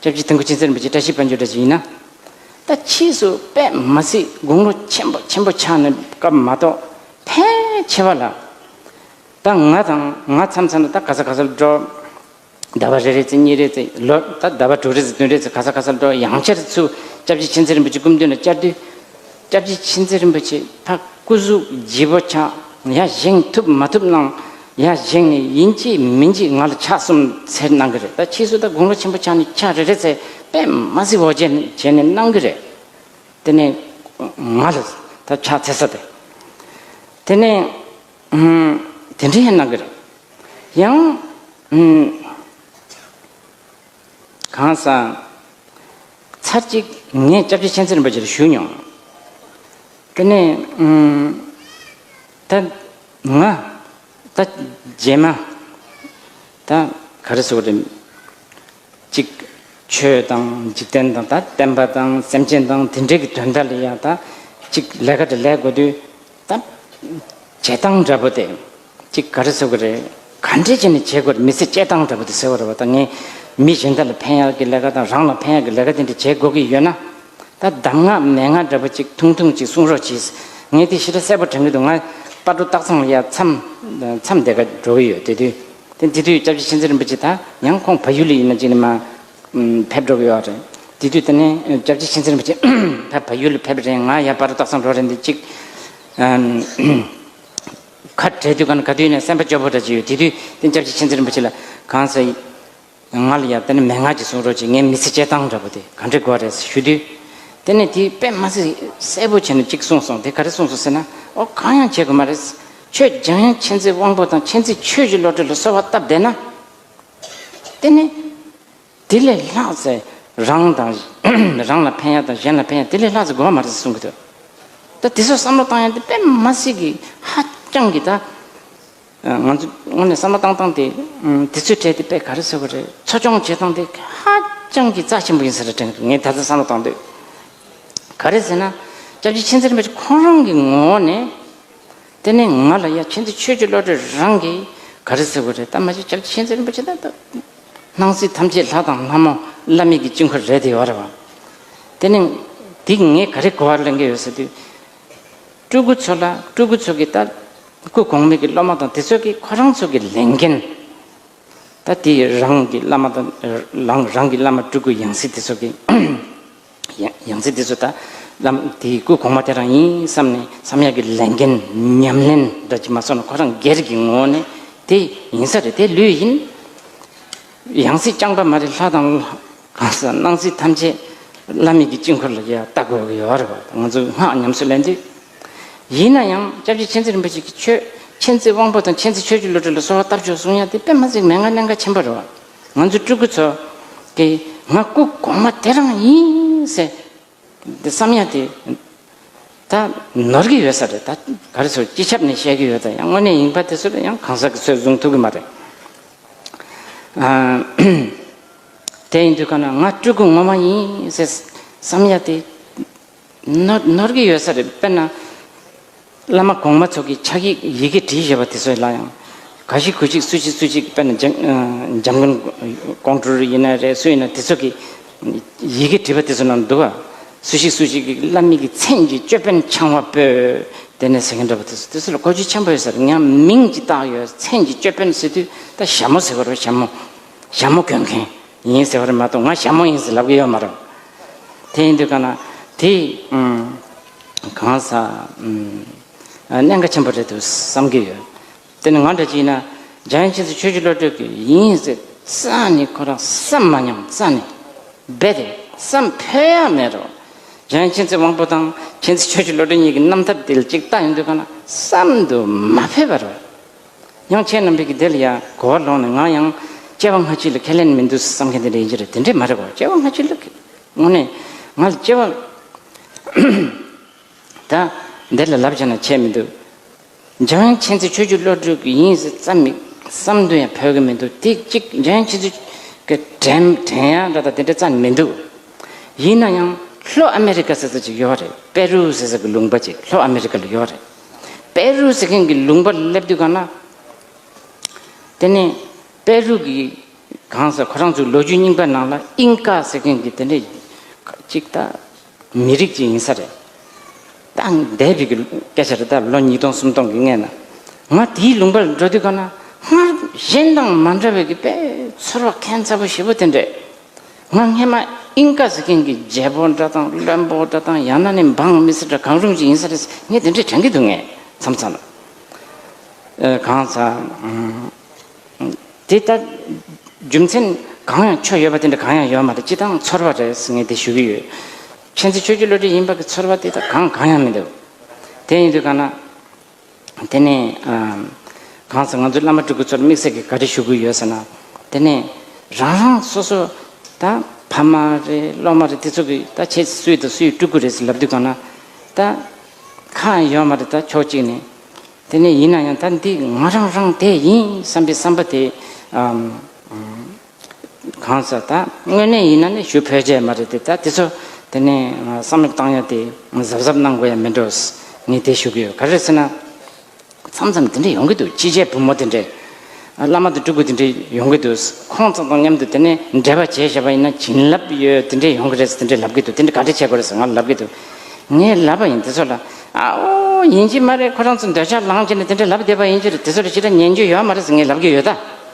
སྐྱབས་རྗེ་ཐང་གུ་ཆེན་གསེར་འབུལ་གྱི་བཀྲ་ཤིས་དཔལ་འབྱོར་འདྲ་ཞིག་ཡིན་ན། ད་ཕྱིས་སུ་པད་མ་སྲིད་དགུང་ལོ་ཆེན་པོ་ཆེན་པོ་ཆགས་ནས་སྐབས་མ་གཏོགས་ཕལ་ཆེ་བ་ལ། ད་ང་དང་ང་འཚམས་འཚམས་ལ་ད་ག་ས་ག་སར་འགྲོ། ཟླ་བ་རེ་རེ་ཚེ་གཉིས་རེ་ཚེ་ལོད་ད་ཟླ་བ་དྲུག་རེ་ཚེ་བདུན་རེ་ཚེ་ག་ས་ག་སར་འགྲོ་ཡང་ཆར་ཆུ་སྐྱབས་རྗེ་ཆེན་གསེར་འབུལ་གྱི་སྐུ་མདུན་ལ་བཅར་དུས། སྐྱབས་རྗེ་མཁྱེན་བརྩེ་རིན་པོ་ཆེ་འཕགས་སྐུ་གཟུགས་བརྗིད་པོ་ཆགས་ཡ་བཞེངས་ཐུབ་མ་ཐུབ་གནང། ཡ་བཞེངས་ནས་ཡིན་གཅིག་མིན་གཅིག་ང་ལ་ཕྱག་གསུམ་འཚལ་གནང་གི་རེད་ད་ཕྱིས་སུ་ད་དགུང་ལོ་ཆེན་པོ་ཆགས་ནས་ཕྱག་རེ་རེ་འཚལ་པས་མ་གཟིགས་འོ་བྱེད་བྱེད་ནས་གནང་གི་རེད། དེ་ནས་ང་ལ་ད་ཕྱག་འཚལ་ས་དེ་དེ་ནས་དེ་འདྲའི་གནང་གི་རེད། ཡང། གང་སང། ཚར་གཅིག་ངས་སྐྱབས་རྗེ་མཁྱེན་བརྩེ་རིན་པོ་ཆེར་ཞུས་མྱོང། དེ་ནས། ད། ང། ད། རྗེས་མ། ད། ག་རེ་ཟེར་བ་རེད། གཅིག། ཆོས་དང་འཇིག་རྟེན་དང་ད་བསྟན་པ་དང་སེམས་ཅན་དང་དེ་འདྲས་ཀྱི་དོན་དག་ལ་ཡང་ད། གཅིག་ལས་ཀ་དེ་ལས་དགོས་དུས། ད་བྱེད་སྟངས་འདྲ་པོ་དེ་གཅིག་ག་རེ་བཟོ་གི་རེད་ག་འདྲས་བྱས་ནས་བྱེད་དགོས་རེད་མི་ཚེ་སྤྱད་སྟངས་འདྲ་པོ་དེ་ཟེར་བ་རེད་བ་ད་ངས་མི་གཞན་དག་ལ་ཕན་ཡག་གི་ལས་ཀ་དང་རང་ལ་ཕན་ཡག་གི་ལས་ཀ་དེ་འདྲ་བྱེད་དགོས་ཀྱི་ཡོད་ན། ད་གདམས་ངག་མན་ངག་འདྲ་པོ་གཅིག་ཐུང་ཐུང་གཅིག་གསུང་རོགས་གྱིས། ངས་དེ་ཤི་ཁྲ་གསལ་པོ་དྲན་གི་འདུག་ང་རྟ་སྒྲོ་སྟག་ཚང་ལ་ཡར་མཚམས་འདེགས་ཀ་འགྲོ་གི་ཡོད་དེ་དུས་དེ་དུས་སྐྱབས་རྗེ་མཁྱེན་བརྩེ་རིན་པོ་ཆེ་ད་ཡང་ཁོང་བ་ཡུལ་ལ་ཡིན་ན་ཅིག་ནས་མ་ཕེབས་འགྲོ་གི་ཡོད་རེད། དེ་དུས་དེ་ནས་སྐྱབས་རྗེ་ཆེན་ཚེ་རིན་པོ་ཆེ་ཕ་བ་ཡུལ་ལ་ཕེབས་པ་རེད་ང་ཡར་འབར་སྟག་ཚང་འགྲོ་རེད་འདི་གཅིག། ཁ་བྲལ་དུས་ག་དུས་ནས་སེམས་པ་སྐྱོ་པོ་འདྲ་གཅིག་ཡོད་དེ་དུས་དེ་སྐྱབས་རྗེ་ཆེན་ཚེ་རིན་པོ་ཆེ་ལ་གང་ཟེར། ང་ལ་ཡར་དེ་ནས་མན་ངག་ཅིག་གསུང་རོགས་གྱིས་ངའི་མི་ཚེ་སྐྱེལ་སྟངས་འདྲ་པོ་དེ་ག་འདྲི་དགོས་རེད་ཞུས་དུས། དེ་ནས་དེས་དཔེ་མ་ཚིག་གསལ་པོ་བྱས་ནས་གཅིག་གསུངས་སོང་དེ་ག་རེ་གསུངས་སོང་ཟེར་ན། ཨོ་གང་ཡང་བྱེད་དགོས་མ་རེད། ཁྱོད་རྒྱང་ཡང་མཁྱེན་བརྩེ་དབང་པོ་དང་མཁྱེན་བརྩེ་ཆོས་ཀྱི་བློ་གྲོས་ལ་གསོལ་བ་བཏབ་བསྡད་ན། དེ་ནི། དེ་ལས་ལྷག་ཚེ་རང་དང། རང་ལ་ཕན་ཡ་དང་གཞན་ལ་ཕན་ཡ་དེ་ལས་ལྷག་ཚེ་དགོས་པ་མ་རེད་ཟེར་གསུང་གི་འདུག་ད་དེ་ཚོར་བསམ་བློ་བཏང་ཡ་དེ་དཔེ་མ་སྲིད་ཀྱི་ཧ་ཅང་གི་ད། ང་ཚོ་དངོས་ནས་བསམ་བློ་བཏང་བཏང་དེ། དེ་ཚོའི་གྲས་དེ་དཔེ་ག་རེ་ཟེར་བ་རེད་འཚོ་སྐྱོང་བྱེད་སྟངས་དེ་ཧ་ཅང་གི་རྩ་ཆེན་པོ་ཡིན་ས་རེད་དྲན་གི་འདུག་ངས་ད་ལྟ་བསམ་བློ་བཏང་དུས། ག་རེ་ཟེར་ན། སྐྱབས་རྗེ་མཁྱེན་བརྩེ་རིན་པོ་ཆེ་ཁོང་རང་གི་ངོ་བོ་ནས། དེ་ནས་ང་ལ་ཡ་ཁྱེད་ཚོས་ཆོས་ཀྱི་བློ་གྲོས་རང་གིས་ག་རེ་ཟེར་དགོས་རེད་ད་མ་ཤེས་ཁྱེད་ཚོས་ཤེས་ཚད་རིན་པོ་ཆེ་ད་ལྟ་སྣང་སྲིད་ཐམས་ཅད་ལྷ་དང་ལྷ་མོ་བླ་མེད་ཀྱི་དཀྱིལ་འཁོར་རེད་དེ་ཨོ་རེད་བ། དེ་ནས་འདི་ངས་ག་རེ་གོ་བ་གླེང་གི་ཡོད་ཟེར་དུས། སྤྲུལ་སྐུ་ཚོ་ལ་སྤྲུལ་སྐུ་ཚོ་གིས་ལྟ། སྐུ་གོང་མས་ཀྱི་སློབ་མ་དང་དེ་ཚོ་གིས་ཁོ་རང་ཚོ་གི་ལས་འགན། ད་དེས་རང་གི་བླ་མ་དང། རང་རང་གི་བླ་མ་སྤྲུལ་སྐུ་ཡང་སྲིད་དེ་ཚོ་གིས། ཡང་སྲིད་དེ་ཚོ་ད་བླ་མ་དེའི་སྐུ་གོང་མ་དེ་རང་ཡིན་བསམ་ནས་བསམ་ཡག་གི་ལས་འགན་ཉམས་ལེན་འདྲ་གྱིས་མ་སོང་ན་ཁོ་རང་སྒེར་གྱི་ངོ་བོ་ནི་དེ་ཡིན་ས་རེད་དེ་ལོས་ཡིན། ཡང་སྲིད་རྐྱང་པ་མ་རེད་ལྷ་དང། གང་ཟག་སྣང་སྲིད་ཐམས་ཅད་བླ་མེད་ཀྱི་དཀྱིལ་འཁོར་ལ་ཡང་ལྟ་དགོས་ཀྱི་ཡོད་རེད་བ་ང་ཚོ་སྔགས་ཉམས་སུ་ལེན་དུས། ཡིན་ན་ཡང་སྐྱབས་རྗེ་མཁྱེན་བརྩེ་རིན་པོ་ཆེ་གིས་ཆོས་མཁྱེན་བརྩེ་དབང་པོ་དང་མཁྱེན་བརྩེ་ཆོས་རྒྱུད་བློ་གྲོས་ལ་གསོལ་བ་བཏབ་ཆོག་གསུང་ཡ་དེ་པདྨ་འཛིན་མའི་ངག་ཀླན་ཀ་ཆེན་པོ་རེད་བ། ང་ཚོ་སྤྲུལ་སྐུ་ཚོ། དེ་ང་སྐུ་གོང་མ་དེ་རང་ཡིན། ཟེར། དེ་བསམ་ཡ་དེ། ད་ནོར་གི་ཡོད་ས་རེད་ད། ག་རེ་ཚོར་སྤྱི་ཁྱབ་ནས་བཤད་གི་ཡོད་ད་ཡང་དངོས་གནས་ཡིན་པ་དེ་ཚོར་ཡང་གང་ཟག་གི་ཚོས་བཟུང་ཐུབ་གི་མ་རེད། དེ་ཡིན་དུས་ག་ན་ང་སྤྲུལ་སྐུ་ངོ་མ་ཡིན། ཟེར། བསམ་ཡ་དེ། ནོར་གྱི་ཡོད་ས་རེད་དཔེར་ན། བླ་མ་གོང་མ་ཚོ་གི་ཕྱག་ཡིག་ཡི་གེ་བྲིས་བཞེས་པ་དེ་ཚོའི་ལ་ཡང། ག་ཞིག་གུ་ཞིག་སུ་ཞིག་སུ་ཞིག་དཔེར་ན་འཇམ་མགོན་ཀོང་སྤྲུལ་ཡིན་ན་རེད་སུ་ཡིན་ན་དེ་ཚོ་གི་ཡི་གེ་བྲིས་པ་དེ་ཚོ་ནང་འདུག་ཨ། སུ་ཞིག་སུ་ཞིག་གི་བླ་མིག་གི་མཚན་གྱི་ཅོད་པན་འཆང་བ་པོ། དེ་ནས་ཟེར་མཁན་འདྲ་བ་དེ་ཚོ་དེ་ཚོ་ལ་གོ་རྒྱུ་ཆེན་པོ་ཡོད་ས་རེད་ཡང་མིང་གཅིག་བཏགས་ཡོད་མཚན་གྱི་ཅོད་པན་ཟེར་དུས་ད་ཞྭ་མོ་ཟེར་བ་རེད་ཞྭ་མོ། ཞྭ་མོ་གོན་མཁན་ཡིན་ཟེར་བ་རེད་མ་གཏོགས་ང་ཞྭ་མོ་ཡིན་ཟེར་ལབ་གི་ཡོད་མ་རེད། དེ་ཡིན་དུས་ཀ་ན་དེ་གང་ཟག་གནད་འགག་ཆེན་པོ་རེད་འདུག་བསམ་གྱི་ཡོད། དེ་ནི་ང་འདྲ་གཅིག་ཡིན་ན་རྒྱ་ཡན་ཕྱིན་ཚེ་ཆོས་རྗེ་བློ་གྲོས་ཀྱི་ཡིན་ཟེར་ས་ནི་ཁོ་རང་བསམ་མ་མྱོང་ས་ནས་རྦད་དེ་བསམ་ཕོད་ཡ་མེད་རོ། རྒྱ་ཡན་ཕྱིན་ཚེ་དབང་པོ་དང་ཕྱིན་ཚེ་ཆོས་རྗེ་བློ་གྲོས་གཉིས་ཀྱི་རྣམ་ཐར་དེ་ལ་གཅིག་རྟག་ཡིན་དུས་ཀ་ན་བསམ་དུ་མ་ཕོད་པ་རེད། དབྱངས་ཅན་རྣམ་རིག་གིས་དེ་ལ་ཡང་གོ་བ་ལོག་ནས་ང་ཡང་སྐྱེ་བ་སྔ་ཕྱི་ལ་ཁས་ལེན་མི་འདུག་བསམ་མཁན་དེ་འདྲ་ཡིན་གྱི་རེད་དེ་འདྲས་མ་རེད་བ་སྐྱེ་བ་སྔ་ཕྱི་ལ་ཁས། དངོས་གནས་ང་ལ་སྐྱེ་བ་ད་འདི་ལ་ལབ་བྱ་ན་བྱས་མི་འདུག་འཇམ་དབྱངས་མཁྱེན་བརྩེ་ཆོས་བརྒྱུད་བློ་གྲོས་ཀྱི་ཡིན་ཟེར་བསམ་མི་བསམ་དོན་ཡང་ཕོད་ཀྱི་མི་འདུག་དེ་གཅིག་འཇམ་དབྱངས་མཁྱེན་བརྩེ་ཀྱི་དྲན་དྲན་ཡང་འདྲ་ད་དེ་འདྲ་རྩ་ནས་མི་འདུག་ཡིན་ན་ཡང་ལྷོ་ཨ་མེ་རི་ཀ་ཟེར་ས་ཅིག་ཡོད་རེད་པེ་རུ་ཟེར་ས་ཀྱི་ལུང་པ་ཅིག་ལྷོ་ཨ་མེ་རི་ཀ་ལ་ཡོད་རེད། པེ་རུ་ཟེར་མཁན་གྱི་ལུང་པར་སླེབས་དུས་གང་ན། དེ་ནས་པེ་རུ་གྱི་གང་ཟེར་ཁོ་རང་ཚོའི་ལོ་རྒྱུས་རྙིང་པའི་ནང་ལ་ཨིང་ཀ་ཟེར་མཁན་གྱི་དེ་འདྲའི་གཅིག་ད་མི་རིགས་གཅིག་ཡིན་ས་རེད། ད་འདས་པའི་གི་སྐད་ཆ་རེད་ད་ལོ་ཉིས་སྟོང་སུམ་སྟོང་གི་སྔས་ན། ང་དེའི་ལུང་པར་འགྲོ་དུས་གང་ན་སྔར་གཞན་དང་མ་འདྲ་བའི་གི་པེ་ཚོར་བ་ཁན་ཚ་པོ་ཞེ་པོ་དེ་འདྲས། ང་སྔན་མ་ཨིན་ཀ་ཟེར་མཁན་གྱི་རྒྱལ་པོ་འདྲ་དང་བློན་པོ་འདྲ་དང་ཡང་ན་ནི་འབངས་མི་སེར་འདྲ་གང་རུང་ཞིག་ཡིན་ས་རེད་ངས་དེ་འདྲས་དྲན་གྱི་འདུག་ངས་མཚམས་མཚམས་ལ། གང་ལྟར། དེ་ལྟར་རྒྱུ་མཚན་གང་ཡང་ཆོས་ཡོད་པ་དེ་འདྲ་གང་ཡང་ཡོད་མ་རེད་སྤྱི་བཏང་ཚོར་བ་རེད་ངས་དེ་ཞུ་གི་ཡོད། མཁྱེན་བརྩེ་ཆོས་བརྒྱུད་བློ་གྲོས་ཡིན་པ་གྱི་ཚོར་བ་དེ་དག་གང་གང་ཡང་མི་འདུག་དེ་ཡིན་དུས་གང་ན། དེ་ནས་གང་ཟག་ང་ཚོའི་བླ་མ་སྤྲུལ་སྐུ་ཚོར་དམིགས་བསལ་གྱི་བཀའ་དྲིན་ཞུ་དགོས་ཡོད་ཟེར་ན། དེ་ནས་རང་རང་སོ་སོ་ད་ཕ་མ་རེད་སློབ་མ་རེད་དེ་ཚོ་གིས་ད་ཁྱེད་སུ་ཡིན་དང་སུ་ཡི་སྤྲུལ་སྐུ་རེད་ཟེར་ལབ་དུས་གང་ན་ད་ཁ་ཡང་ཡོད་མ་རེད་ད་ཕྱོགས་གཅིག་ནས། དེ་ནས་ཡིན་ན་ཡང་ད་འདི་ང་རང་རང་དེ་ཡིན་བསམ་པའི་བསམ་པ་དེ། གང་ཟག་དང་དངོས་གནས་ཡིན་ན་ནི་ཞུ་ཕོད་ཆད་མ་རེད་དེ་ད་དེ་ཚོ་དེ་ནས་བསམ་བློ་བཏང་ཡ་དེ་གཟབ་གཟབ་གནང་དགོས་ཡ་མི་འགྲོ་ངས་དེ་ཞུ་གི་ཡོད་ག་རེ་ཟེར་ན། མཚམས་མཚམས་དེ་འདྲ་ཡོང་གི་འདུག་སྤྱི་བྱེ་བུ་མོ་དེ་འདྲས་བླ་མ་དང་སྤྲུལ་སྐུ་དེ་འདྲས་ཡོང་གི་འདུག་ཁོང་ཚང་དང་མཉམ་དུ་དེ་ནས་འབྲེལ་བ་བྱས་ཤེས་པ་ཡིན་ན་བྱིན་རླབས་ཡོད་དེ་འདྲས་ཡོང་གི་རེད་ཟེར་དེ་འདྲས་ལབ་གི་འདུག་དེ་འདྲས་ག་འདྲས་བྱས་དགོས་རེད་ཟེར་ང་ལབ་གི་འདུག་ངས་ལབ་པ་ཡིན་དེ་ཚོ་ལ་ཨའོ་ཡིན་གྱི་མ་རེད་ཁོ་རང་ཚོ་འདོད་ཆགས་ལངས་ཀྱི་ནས་དེ་འདྲས་ལབ་བསྡད་པ་ཡིན་གྱི་རེད་དེ་ཚོ་ལ་ཅི་འདྲ་ཉན་རྒྱུ་ཡོད་མ་རེད་ཟེར་ངས་ལབ་གི་ཡོད་ད།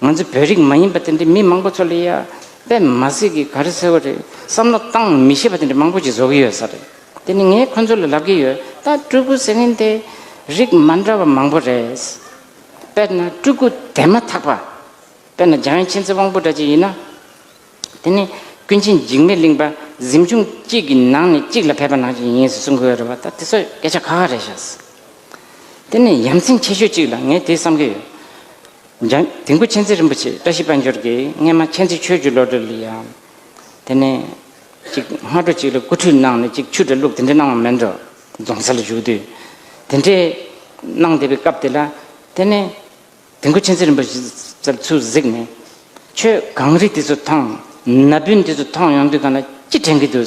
ང་ཚོ་བོད་རིགས་མ་ཡིན་པ་དེ་འདྲའི་མི་མང་པོ་ཚོ་ལ་ཡ་དཔེ་མ་གཟིགས་ཀི་ག་རེ་ཟེར་བ་རེད་བསམ་བློ་གཏང་མི་ཤེས་པ་དེ་འདྲ་མང་པོ་ཅིག་བཟོ་གི་ཡོད་ས་རེད་དེ་ནི་ངས་ཁོ་ཚོ་ལ་ལབ་ཀི་ཡོད་ད་སྤྲུལ་སྐུ་ཟེར་མཁན་དེ་རིགས་མ་འདྲ་བ་མང་པོ་རེད། དཔེར་ན་སྤྲུལ་སྐུ་དེ་མ་ཐག་པ་དཔེར་ན་འཇང་ཡེ་ཆེན་ཚེ་དབང་པོ་འདྲ་ཅིག་ཡིན་ན། དེ་ནི་ཀུན་མཁྱེན་འཇིགས་མེད་གླིང་པ་གཟིམ་ཆུང་གཅིག་གི་ནང་ནས་གཅིག་ལ་ཕེབས་པ་ནང་བཞིན་ཡིན་ཟེར་གསུང་གི་ཡོད་རེད་བ་ད་དེ་ཚོ་སྐད་ཆ་ཁ་ཁ་རེད་ཤག། དེ་ནི་ཡ་མཚན་ཆེ་ཤོས་གཅིག་ལ་ངས་དེ་བསམ་གི་ཡོད། འཇང་དུས་འཁོར་མཁྱེན་བརྩེ་རིན་པོ་ཆེ་བཀྲ་ཤིས་དཔལ་འབྱོར་གྱིས་སྔས་མ་མཁྱེན་བརྩེ་ཆོས་བརྒྱུད་བློ་གྲོས་ལ་ཡང། དེ་ནས། ཅིག་སྔ་དྲོ་ཅིག་ལ་སྐུ་ཁྲུས་གནང་ནས་ཅིག་ཆུ་འདྲ་བླུགས་དེ་འདྲ་གནང་བ་མིན་འགྲོ། རྫོང་སར་བཞུགས་དུས། དེ་འདྲའི། གནང་བསྡད་པའི་སྐབས་དེ་ལ། དེ་ནས། དུས་འཁོར་མཁྱེན་བརྩེ་རིན་པོ་ཆེས་ཚུར་གཟིགས་ནས། ཁྱོད་གངས་རི་དེ་ཚོ་ཐང། ན་བུན་དེ་ཚོ་ཐང་ཡོང་དུས་གང་ལ་ཅི་དྲན་གྱི་འདུག།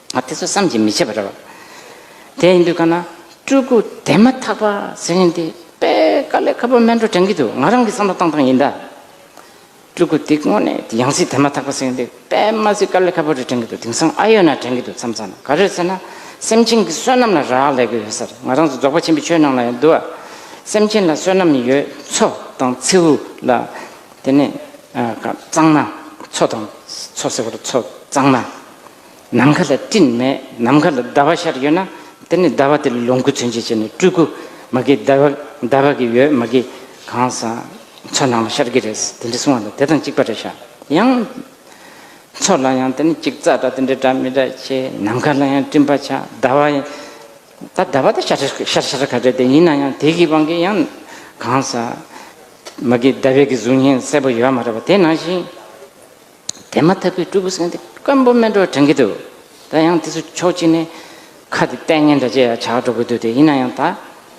ང་དེ་ཚོ་བསམ་གྱིས་མི་ཁྱབ་པ་རེད་བ། དེ་ཡིན་དུས་ཀ་ན་སྤྲུལ་སྐུ་དེ་མ་ཐག་པ་ཟེར་མཁན་དེ་དཔེ་དཀར་ལས་ཁ་པོ་སྨད་འགྲོ་དྲན་གྱི་འདུག་ང་རང་གི་བསམ་བློ་བཏང་སྟངས་ཡིན་ད། སྤྲུལ་སྐུ་དེ་དངོས་གནས་དེ་ཡང་སྲིད་དེ་མ་ཐག་པ་ཟེར་མཁན་དེ་དཔེ་མ་ཟིག་དཀར་ལས་ཁ་པོ་རེད་དྲན་གྱི་འདུག་དེང་སང་ཨ་ཡོད་ན་དྲན་གྱི་འདུག་མཚམས་མཚམས་ག་རེད་ཟེར་ན་སེམས་ཅན་གྱི་བསོད་ནམས་ལ་རག་ལས་གི་ཡོད་ས་རེད་ང་རང་ཚོ་རྫོགས་པ་ཆེན་པོའི་ཆོས་ནང་ལ་ཡང་འདུག་ཨ། སེམས་ཅན་ལ་བསོད་ནམས་ཡོད་མཚོ་དང་མཚེའུ་ལ་དེ་ནས་གཙང་ན་མཚོ་དང་མཚོ་ཟེར་བ་ལ་མཚོ་གཙང་ན། ནམ་མཁའ་ལ་སྤྲིན་མེད་ནམ་མཁའ་ལ་ཟླ་བ་ཤར་ཡོད་ན་དེ་ནི་ཟླ་བ་དེ་ལ་ལོངས་སྐུ་མཚོན་བྱེད་བྱས་ནས་སྤྲུལ་སྐུ་མ་དགེ་ཟླ་བ་ཟླ་བ་གི་ཡོད་མ་དགེ་གང་ཟག་མཚོན་སྣང་བ་ཤར་གི་རེད་དེ་འདྲའི་གསུང་བ་ལ་དེ་དང་གཅིག་པ་རེད་ཤག་ཡང། མཚོ་ལ་ཡང་དེ་ནི་གཅིག་རྩ་འདྲ་དེ་འདྲའི་འདྲ་མི་འདྲ་ཆེ་ནམ་མཁའ་ལ་ཡང་སྤྲིན་པ་ཆགས་ཟླ་བ་ཡང་ད་ཟླ་བ་དེ་ཤར་ཤར་ཤར་ག་རེད་དེ་ཡིན་ན་ཡང་དེ་གི་དབང་གིས་ཡང་གང་ཟག་མ་དགེ་ཟླ་བའི་གཟུགས་བརྙན་གསལ་པོ་ཡོད་མ་རེད་བ་དེ་ནང་བཞིན། དེ་མ་ཐག་པའི་སྤྲུལ་སྐུ་སེང་གེ་སྐམ་པོ་སྨན་གྲོགས་དྲན་གྱི་འདུག་ད་ཡང་དེ་ཚོ་ཕྱོགས་གཅིག་ནས་ཁ་དེ་གཏད་ཉན་འདྲ་ཅི་ཡང་བྱ་དགོས་འདུག་དེ་ཡིན་ན་ཡང་ད་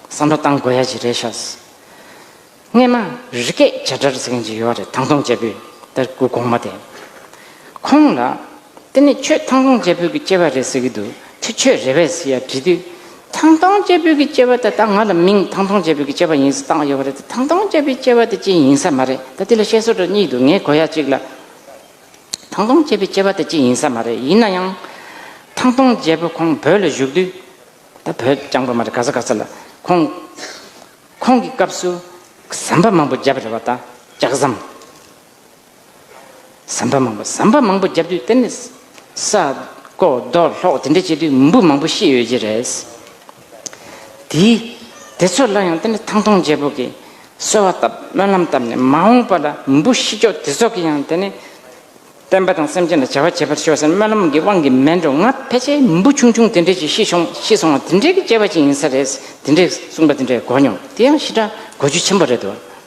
བསམ་བློ་བཏང་དགོས་ཡ་གཅིག་རེད་ཤག་སྔས་མ་རི་སྐད་བྱ་སྒྲར་ཟེར་མཁན་གཅིག་ཡོད་རེད་ཐང་སྟོང་བྱ་ཕུད་དར་སྐུ་གོང་མ་དེ་ཁོང་ལ་དེ་ནས་ཁྱོད་ཐང་སྟོང་བྱ་ཕུད་ཀྱི་སྐྱེ་བ་རེད་ཟེར་གྱི་འདུག་དེ་ཁྱོད་རེ་བས་ཟེར་ཡ་དྲི་དུས་ཐང་ཐང་སྐྱེས་བུ་གི་སྐྱེ་བ་ད་ལྟ་ང་ལ་མིང་ཐང་ཐང་སྐྱེས་བུ་གི་སྐྱེ་བ་ཡིན་ཟེར་བཏགས་ཡོད་པ་རེད་དེ་ཐང་ཐང་སྐྱེས་བུའི་སྐྱེ་བ་དེ་ཅི་ཡིན་ས་མ་རེད་ད་དེ་ལ་བཤད་སྲོལ་འདྲ་གཉིས་འདུག་ངས་གོ་ཡ་གཅིག་ལ། ཐང་ཐང་སྐྱེས་བུའི་སྐྱེ་བ་དེ་ཅི་ཡིན་ས་མ་རེད་ཡིན་ན་ཡང། ཐང་ཐང་སྐྱེས་བུ་ཁོང་བོད་ལ་བཞུགས་དུས། ད་བོད་རྐྱང་པོ་མ་རེད་ག་ས་ག་ས་ལ་ཁོང། ཁོང་གི་སྐབས་སུ་ཟམ་པ་མང་པོ་བརྒྱབ་རེད་བ་ད་ལྕགས་ཟམ། ཟམ་པ་མང་པོ་ཟམ་པ་མང་པོ་བརྒྱབ་དུས་དེ་ནི་ས་རྐོ་རྡོ་སློག་དེ་འདྲ་བྱེད་དུས་མི་འབུ་མང་པོ་ཤི་ཡོད་ཀྱི་རེད། དེས་དེ་ཚོ་སླར་ཡང་དེ་ནི་ཐང་སྟོང་རྒྱལ་པོ་གིས་གསོལ་བ་བཏབ་སྨོན་ལམ་བཏབ་ནས་མ་འོངས་པ་ལ་མི་འབུ་ཤི་ལྕོགས་དེ་ཚོ་གིས་ཡང་དེ་ནི་བསྟན་པ་དང་སེམས་ཅན་ལ་བྱ་བ་བྱེད་པར་ཤོག་ཟེར་སྨོན་ལམ་གྱི་དབང་གིས་མལ་འགྲོ་ང་ཕལ་ཆེར་མི་འབུ་ཆུང་ཆུང་དེ་འདྲས་ཀྱིས་ཤི་ཤོང་ཤི་སོང་བ་དེ་འདྲས་ཀྱིས་སྐྱེས་པ་ཅིག་ཡིན་ས་རེད་དེ་འདྲས་གསུངས་པ་དེ་འདྲས་གོ་མྱོང་དེ་ཡང་ཞི་དྲག་གོ་རྒྱུ་ཆེན་པོ་རེད་དོ།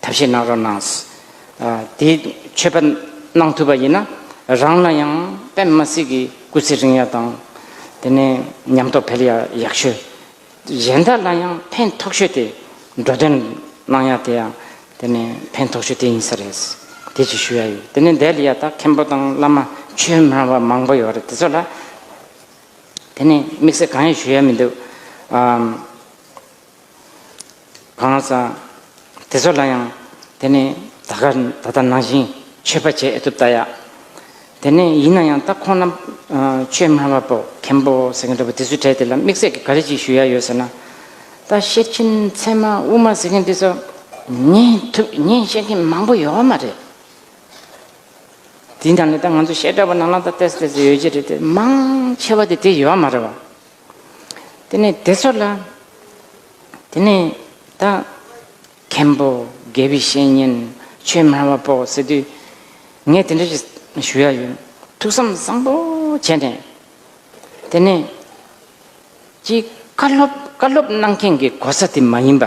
ཐབས་ཤེས་གནང་རོགས་གནང། དེའི་མཆོད་པ་གནང་ཐུབ་པ་ཡིན་ན་རང་ལ་ཡང་པད་མ་སྲིད་ཀྱི་སྐུ་ཚེ་རིང་ཡག་དང། དེ་ནས་ཉམས་རྟོགས་འཕེལ་ཡག་ཡག་ཤོས། གཞན་དག་ལ་ཡང་ཕན་ཐོགས་ཤོས་དེ་འགྲོ་དོན་གནང་ཡག་དེ་ཡང་དེ་ནས་ཕན་ཐོགས་ཤོས་དེ་ཡིན་ས་རེད། དེ་ཅིག་ཞུ་ཡག་ཡོད་དེ་ནས་འདས་ལ་ཡག་ད་མཁན་པོ་དང་བླ་མ་ཆོས་སྨྲ་བ་མང་པོ་ཡོད་རེད་དེ་ཚོ་ལ་དེ་ནས་དམིགས་བསལ་གང་ཡང་ཞུ་ཡག་མི་འདུག། གང་ཟག་དེ་ཚོ་ལ་ཡང་དེ་ནི་ད་གར་ད་ལྟ་ནང་བཞིན་ཆོས་པ་བྱེད་ཨེ་ཐུབ་ལྟ་ཡ། དེ་ནས་ཡིན་ན་ཡང་ད་ཁོང་རྣམས་ཆོས་སྨྲ་བ་པོ་མཁན་པོ་ཟེར་མཁན་འདྲ་བོ་དེ་ཚོའི་གྲས་དེ་ལ་དམིགས་བསལ་གྱི་ག་རེ་ཅིག་ཞུ་ཡ་ཡོད་ཟེར་ན། ད་ཤེར་ཕྱིན་ཚད་མ་དབུ་མ་ཟེར་མཁན་དེ་ཚོ་ཉན་ཐུབ་ཉན་ཤེས་མཁན་མང་པོ་ཡོད་མ་རེད། དེའི་ནང་ནས་ད་ང་ཚོ་ཤེས་དགྲ་བོ་ནང་ན་ད་བལྟས་སུ་བལྟས་སུ་ཡོད་ཀྱི་རེད་དེ་མང་ཆེ་བ་དེ་དེ་ཡོད་མ་རེད་བ། དེ་ནས་དེ་ཚོ་ལ། དེ་ནས་ད། མཁན་པོ་དགེ་བའི་བཤེས་གཉེན་ཆོས་སྨྲ་བ་པོ་ཟེར་དུས། ངས་དེ་འདྲ་ཞུ་ཡ་ཡོད། ཐུགས་བསམ་བཟང་པོ་བྱས་ནས། དེ་ནས། གཅིག་བཀའ་སློབ་བཀའ་སློབ་གནང་མཁན་གྱི་གོ་ས་དེ་མ་ཡིན་པ།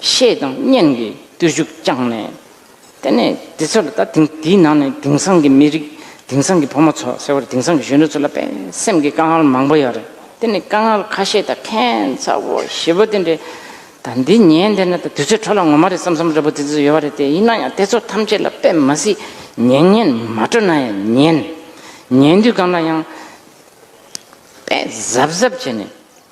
ཤེས་དང་སྙན་གྱི་བརྟུལ་ཞུགས་བསྐྱངས་ནས། དེ་ནས་དེ་ཚོ་ལ་ད་དེང་དེའི་ནང་ནས་དེང་སང་གི་མི་རིགས་དེང་སང་གི་ཕོ་མོ་ཚོ་ཟེར་བར་དེང་སང་གི་གཞོན་ནུ་ཚོ་ལ་དཔེ་སེམས་ཀྱི་དཀའ་ངལ་མང་པོ་ཡོད་རེད་དེ་ནི་དཀའ་ངལ་ཁ་ཤས་དང་ཁེན་ཚ་བོ་ཞེ་བོ་དེ་འདྲའི་ད་འདི་ཉན་དེ་ན་ད་དུས་ཚོད་འཕྲོ་ལ་ངོ་མ་རེད་བསམ་བསམ་རེད་པོ་དེ་ཚོ་ཡོད་རེད་དེ་ཡིན་ན་ཡང་དེ་ཚོ་ཐམས་ཅད་ལ་དཔེ་མ་སྲིད་ཉན་ཉན་མ་སྤྲོ་ན་ཡང་ཉན། ཉན་དུས་གང་ལ་ཡང་དཔེ་གཟབ་གཟབ་བྱས་ནས་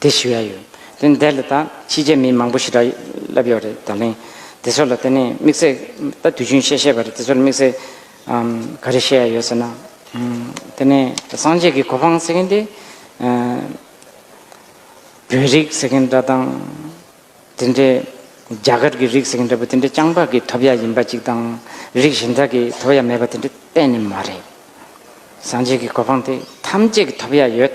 དེ་ཞུ་ཡ་ཡོད། དེ་འདས་ལ་ད་ཕྱིས་རྗེས་མི་མང་པོ་ཞིག་སྒྲ་ལབ་ཡོད་རེད་ད་ལན། དེ་ཚོ་ལ་དེ་ནས་དམིགས་བསལ་ད་དུས་ཆུང་ཤས་ཤས་པ་རེད་དེ་ཚོ་ལ་དམིགས་བསལ་ག་རེ་བཤད་ཡ་ཡོད་ཟེར་ན། དེ་ནས་སངས་རྒྱས་ཀྱི་གོ་འཕང་ཟེར་མཁན་དེ། བོད་རིགས་ཟེར་མཁན་འདྲ་དང། དེ་འདྲས་རྒྱ་གར་གྱི་རིགས་ཟེར་མཁན་འདྲ་པོ་དེ་འདྲས་སྤྱང་འབག་གིས་ཐོབ་ཡ་ཡིན་པ་ཅིག་དང། རིགས་གཞན་དག་གིས་ཐོབ་ཡ་མེད་པ་དེ་འདྲས་གཏན་ནས་མ་རེད། སངས་རྒྱས་ཀྱི་གོ་འཕང་དེ་ཐམས་ཅད་ཀྱིས་ཐོབ་ཡ་ཡོད།